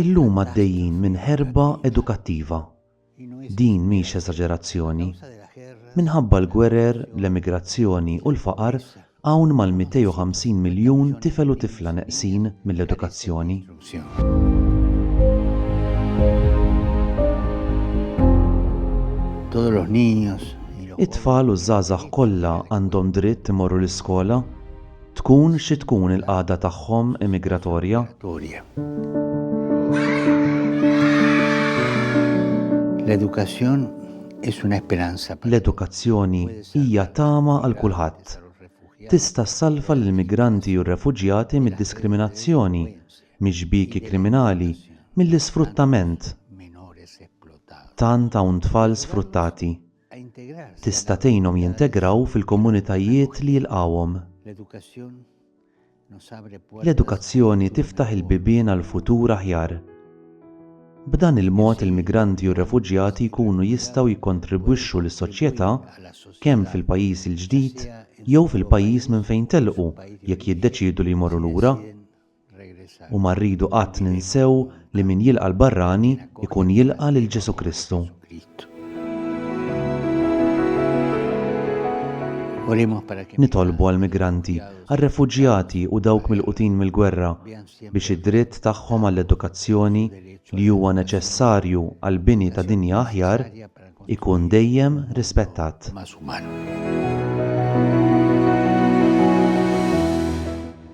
Illum għaddejjin minn ħerba edukattiva. Din mhix eżaġerazzjoni. Minħabba l-gwerer, l-emigrazzjoni u l-faqar, Hawn mal-250 miljun tifel u tifla neqsin mill-edukazzjoni. It-tfal u ż-żgħażagħ kollha għandhom dritt imorru l-iskola, tkun xi tkun il-qagħda tagħhom immigratorja. L-edukazzjoni hija tama għal kulħadd. tista' ssalva lill-migranti u r-refuġjati mid-diskriminazzjoni, mix-xbieki kriminali, mill-isfruttament. Tant hawn tfal sfruttati. Tista' tgħinhom jintegraw fil-komunitajiet li jilqgħuhom. L-edukazzjoni tiftaħ il-bibien għal futur aħjar. B'dan il-mod il-migranti u r-refuġjati jkunu jistgħu jikkontribwixxu lis-soċjetà kemm fil-pajjiż il-ġdid jew fil-pajjiż minn fejn telqu jekk jiddeċiedu li jmorru lura. U ma rridu qatt ninsew li min jilqa' l-barrani jkun jilqa' lil Ġesù Kristu. Nitolbu għall-migranti, għar-refuġjati u dawk milqutin mill-gwerra biex id-dritt tagħhom għall-edukazzjoni, li huwa neċessarju għall-bini ta' dinja aħjar, ikun dejjem rispettat.